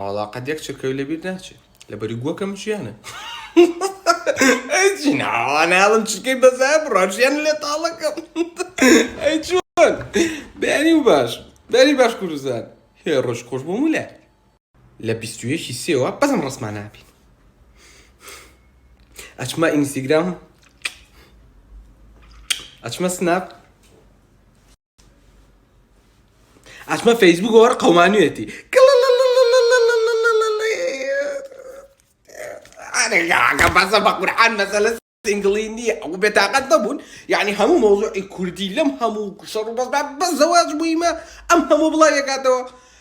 وەڵا قەت یەک چرکەوی لەبیر ناچێ لەبەری گوەکەم ژیانە ئەی ناواناڵم چرکەی بەزای بڕاژیان لێ تاڵەکەم ئەی چۆن بەیانی و باش بەری باش کوردستان هێ ڕۆژ خۆش بۆ مولە لە بیستویەکی سێوە بەزم ڕسمان نابین ئەچمە ئینستیگرام ئەچمە سناپ ئەسمە فەیسبوک وەر قەمانوێتی بەزە بە قورحان مەسەلە سنگڵی نییە ئەو بێتاقەت نەبوون یعنی هەموو مۆزوعی کوردی لەم هەموو شەڕ بەس بە زەواج بوویمە ئەم هەموو بڵاوێکاتەوە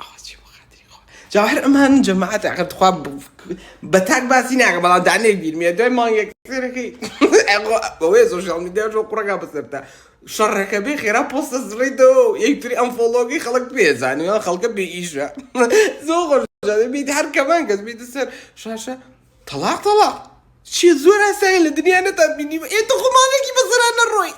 ئەوە چی بۆ خاتری خوا جا هەر ئەمان جەماعەت ئەگەر تخوا بە تاک باسی ناکە بەڵام دا نەبیرمێ دوای مانگێک سێرەکەی بەوەیە سۆشیاڵ میدیا ژۆ قوڕەکە بەسەرتا شەڕەکە بێ خێرا پۆستە زڕیتەوە یەکتری ئەم فۆڵۆگەی خەڵک پێزانانی خەڵکە بێ ئیشە زۆ خۆش بیت هەر کەمان کەس بیت سەر شاشە تەڵاق تەڵاق چیە زۆر ئاسایە لە دنیا نەتان بینیوە ئێ تخو ماڵێکی بەسەرا نەڕۆی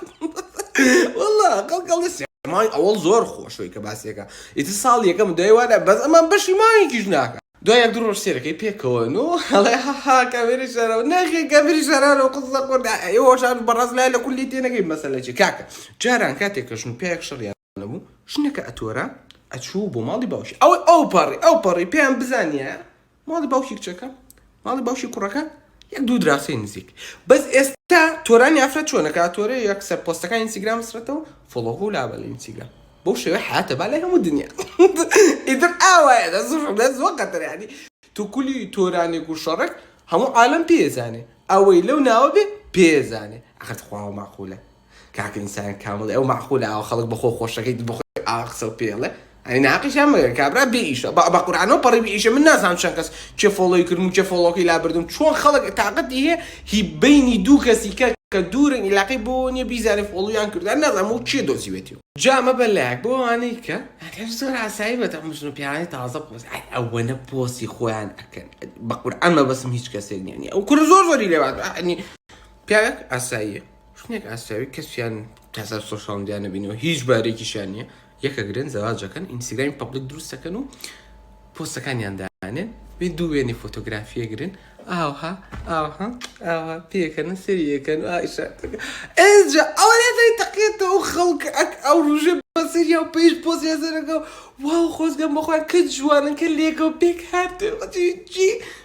والله قەڵ قەڵ دەستی مای ئەوەڵ زۆر خۆشەوەی کە باسیەکە ئیتر ساڵ یەکەم دوای وادە بەس ئەمان بەشی ماوێکیش ناکە دوای یەک دوو ڕۆژ سێرەکەی پێکەوە نۆ هەڵێ هەها کامێری شارەوە ناخێ کامێری شارانەوە قسە خۆردا ئێوەشان بەڕاست لای لە کولی تێنەگەی مەسەلە چی کاکە جاران کاتێک کەشن و پیاوێک شەڕیان نەبوو ژنەکە ئەتۆرا ئەچوو بۆ ماڵی باوکی ئەوەی ئەو پەڕی ئەو پەڕی پێیان بزانیە ماڵی باوکی کچەکە ماڵی باوکی کوڕەکە یەک دوو دراسەی نزیک بەس ئێستا تۆرانی ئافرەت چۆنەکە تۆرە یەک سەر پۆستەکان ئینسیگرام سرەتەوە فڵۆغ و لابە لە ئینسیگرام بۆ شێوە حیاتە با لای هەموو دنیا ئیتر ئاوایە دە زۆر دە زۆر قەتەرانی تو کولی تۆرانێک و شەڕێک هەموو عالم پێزانێ ئەوەی لەو ناوە بێ پێزانێ ئەخەت خواوە ماقولە کاک ئینسان کامڵی ئەو مەعقولە ئاوا خەڵک بەخۆ خۆشەکەیت بەخۆی ئاوا قسەو پێڵێ ئەی ناقیشان مەگەر کابرا بێ ئیشە بە قورانەوە پەڕی بێ ئیشە من نازانم چەند کەس کێ فۆڵۆی کردم و کێ فۆڵۆکەی لابردم چۆن خەڵک تااقەتی هەیە هی بینی دوو کەسی کە کە دوورن ئیلاقەی بۆ نیە بیزانێ فۆڵویان کردوان نازانم و کێ دۆزیوێتی و جا مەبە لایک بۆ ئەوانەی کە ئەگەر زۆر ئاسایی بێت ئەم ژن و پیاوانەی تازە پۆست ئای ئەوەنە پۆستی خۆیان ئەکەن بە قورئان مەبەستم هیچ کەسێک نییە ئەو کورە زۆر زۆری لێوات ئەنی پیاوێک ئاساییە ژنێک ئاسراوی کەسیان تاسەر سۆشال میدیا نەبینەوە هیچ بارێکیشیان نییە یەکە گرن زەواجەکەن ئینستاگرامی پبلک دروستەکەن و پۆستەکانیان دانێن بێ دوو وێنی فۆتۆگرافیە گرن ئاها ئاها ئاها پێکەن و سریەکەن ئێجا ئەوە لێدای تەقێتەوە خەڵک ئەک ئەو ڕژێ بەسەریا و پێش پۆزیا زەرەکە و واو خۆزگەم بەخۆیان کە جوانن کە لێکە و پێک هاتێ جی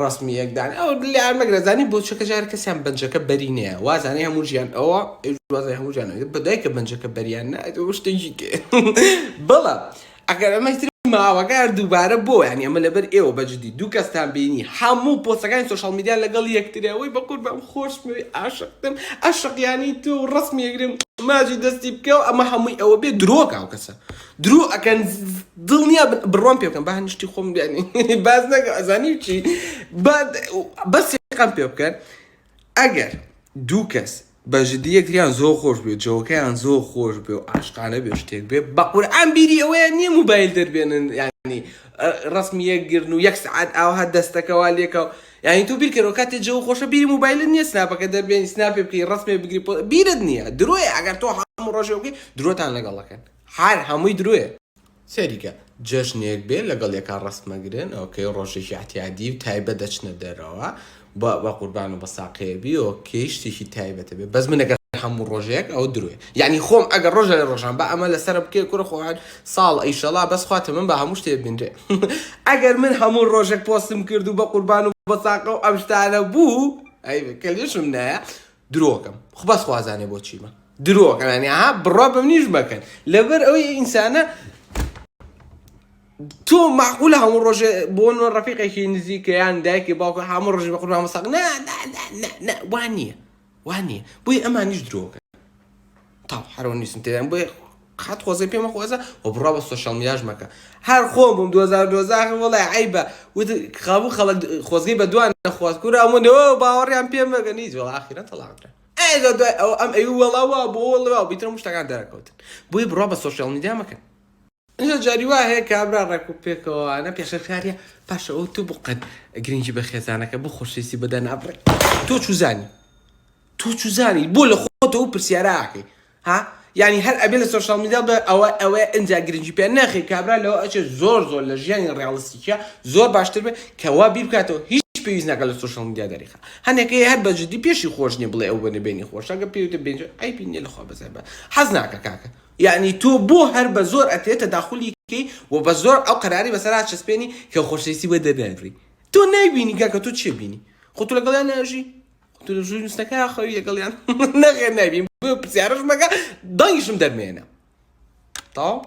ڕەسمی یەک دان ئەو لار مەگرە زانی بۆ چەکە جار کەسیان بەنجەکە بەری نەیە وازانەی هەموو ژیان ئەوە وازای هەموو ژیان بەدای کە بەنجەکە بەریان نایەوە شتێکی تێ بەڵە ئەگەر ئەمەتر ماوەگار دووبارە بۆ یان ئەمە لەبەر ئێوە بەجددی دوو کەستان بینی هەموو پۆسەکانی سوۆشال میدیان لەگەڵ یەکتریەوەی بەقور بەم خۆشمەوی ئاشقتم ئەشقیانی تۆ ڕسمی یەگرم ماجی دەستی بکەو ئەمە هەمووی ئەوە بێ درۆکە ئەو کەسە درۆ ئەکەن دڵنیا بن بڕوام پێ بکەن با هەنی شتی خۆم یانی باس نەکەم ئەزانی چی با بەس یەقەم پێ بکەن ئەگەر دوو کەس بە جدی یەکتریان زۆر خۆش بێ جەوەکەیان زۆر خۆش بێ و عاشقانە بێ شتێک بێ بە قورئان بیری ئەوەیە نییە موبایل دەربێنن یانی ڕسمی یەکگرن و یەک سعات ئاوها دەستەکەوا لێکە و یعنی تۆ بیرکەرەوە کاتێ جەوە خۆشە بیری موبایلت نییە سناپەکە دەربێنی سناپێ بکەی ڕسمێ بگری بیرت نییە درۆیە ئەگەر تۆ هەموو ڕۆژێ بکەی درۆتان لەگەڵ دەکەن هەر هەمووی درۆیە. سەیریکە جەژنێک بێ لەگەڵ یەکا ڕەست مەگرن ئۆکەی ڕۆژێکی ئەعتیادی و تایبەت دەچنە دەرەوە بە بەقوربان و بەساقەیە بی ئۆکەی شتێکی تایبەتە بێ بەس من ئەگەر هەموو ڕۆژێک ئەوە درۆیە یەعنی خۆم ئەگەر ڕۆژە لە ڕۆژان با ئەمە لەسەرە بکەی کورە خۆ هەر ساڵ ئیشەڵا بەس خوا تەمەن با هەموو شتێ بینرێ ئەگەر من هەموو ڕۆژێک پۆستم کرد و بەقوربان و بەساقە و ئەم شتانە بوو ئەی کە لێشم نایە درۆکەم خو بەس خوازانێ بۆ چیمە درۆکەنانی ها بڕا بەم نیش بەکەن لەبەر ئەوەی ئینسانە تۆ معقولە هەموو ڕۆژێ بۆ نۆ ڕفیقێکی نزیکە یان دایکی باوکە هەموو ڕژ بە قورنامە ساق وان نییە وان نییە بۆی ئەمانیش درۆکە تاو حرۆن نیسم تێدام بۆیە قات خۆزگە پێمە خۆزە و بڕا بە سۆشال میاش مەکە هەر خۆم بووم 2012 وڵای عیبە وت قابوو خەڵک خۆزگەی بە دوان نەخواست کورا منەوە باوەڕیان پێم مەگە نیت وڵا ئاخیرەن تەڵاقرا ئەگە دوای ئەو ئەم ئەوی وەڵاوە بۆ وەڵا بیترم شتەکان دەرەکەوتن بۆی بڕا بە سۆشال میدیا مەکەن ئینجا جاری وا هەیە کابرا ڕێک و پێکەوانە پێشەکاریە پاشە ئەو تو بقەت گرنگی بە خێزانەکە بۆ خۆشەویستی بەدا نابڕێ تۆ چوزانی تۆ چوزانی بۆ لە خۆتەوە پرسیاراکەی ها یعنی هەر ئەبێ لە سۆشال میدیا بە ئەوە ئەوە ئەجا گرنگی پێ ناخی کابرا لەوە ئەچێت زۆر زۆر لە ژیانی ڕاڵستیکە زۆر باشتر بێت کەوا بیر بکاتەوە هیچ پێویست ناکە لە سۆشال میدیا دەریخە هەنێکەیە هەر بەجددی پێشی خۆش نیە بڵێ ئەو بەنە بێنی خۆشەکە پێوتە بێنج ئەی بینێ لەخوا بەزای بە حەز ناکە کاکە یەعنی تۆ بۆ هەر بە زۆر ئەتەوێ تەداخولی کەی و بە زۆر ئەو قەراری بەسەر ئاچەسپێنی کە خۆشەویستی بۆ دەرنەبڕی تۆ نایبینی کاکە تۆ چی ئەبینی خۆ تۆ لەگەڵیان ناژی خۆ تۆ لە ژووری نوستنەکە ئاخەوی لەگەڵیان نەخێر نایبینی بۆیە پرسیارەش مەکە دەنگیشم دەرمەیەنە تەواو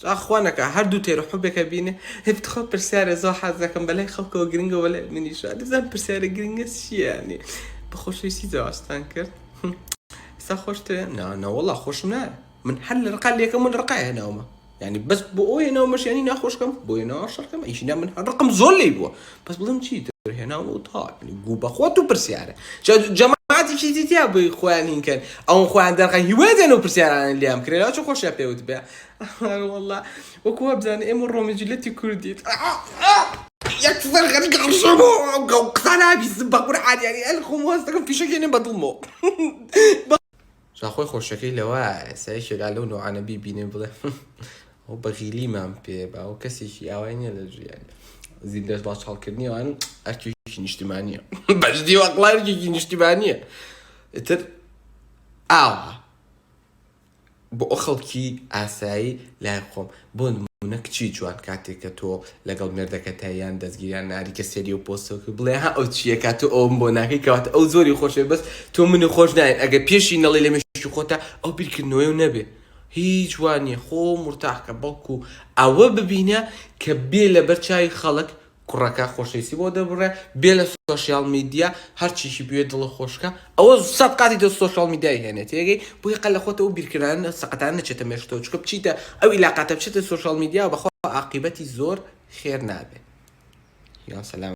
جا خوا نەکا هەر دوو تێرو حەبێکە بینێ هەی بتخوا پرسیارێ زۆر حەز دەکەم بە لای خەڵکەوە گرنگە وە لای منیش وا نزانم پرسیارە گرنگە چیە یانی بە خۆشەویستی جوابتان کرد سا خۆشتە نا نەوەڵا خۆشم نایە من هەر لە ڕقا لەکەم من ڕقا هێناومە یعنی بەس بۆ ئەو هێناومەش یعنی ناخۆشکەم بۆ هێناوە شەڕکەم ئیشنا من هەر ڕقم زۆر لی بووە بەس بڵم چی تر هێناوە و تا گو بەخۆت و پرسیارە جەماعاتیشی دیتیا بووی خۆیان هینکەن ئەو خۆیان دەرقە هیوادێن و پرسیارانە لیام کرێرا چ خۆشیان پێوت بێ ئەرێ وەڵا وەکو وابزانە ئێمە ڕۆمی جلەتی کوردیت یەکسەر غەری گەڕشەمۆ گەڵ قسە نابیزم بە قورعان یاری ئەل خۆم واز دەکەم فیشەکێنێ بە دڵمۆ جاخۆی خۆشەکەی لەوایە سایشێکا لەو نوعانە بیبینێ بڵێ ئەو بەغیلیمان پێ باو کەسێکی ئاوای نییە لە ژیان زیندەش باش هەڵکردنی ئەوان ئەرکێکی نیشتیمانیە بەجدی وەقڵارکێکی نیشتیمانیە ئتر ئاوە بۆ خەڵکی ئاسایی لای خۆم بۆ نموونە کچی جوان کاتێک کە تۆ لەگەڵ مێردەکەتە یان دەستگیر یان ناری کە سێری و پۆستەوە کرد بڵێ ها ئەو چییە کە تۆ ئەوم بۆ ناکەی کەواتە ئەو زۆری خۆشێ بەس تۆ منی خۆش ناوێت ئەگەر پێشی نەڵێی لە مێشکی خۆتا ئەو بیرکردنەوەی و نەبێ هیچ وا نییە خۆ مورتاح کە بەڵکو ئەوە ببینە کە بێ لەبەر چاوی خەڵک کوڕەکە خۆشەویستی بۆ دەربڕێ بێ لە سۆشیال میدیا هەرچیشی بوێ دڵە خۆشکە ئەوە سەد قاتی تۆ سۆشیال میدیای هێنێت تێگەی بۆیە قە لە خۆتەوە بیرکردن سەقەتان نەچێتە مێشکتەوە چکە بچیتە ئەو ئیلاقاتە بچێتە سۆشیال میدیا بەخۆ عاقیبەتی زۆر خێر نابێت یا سەلام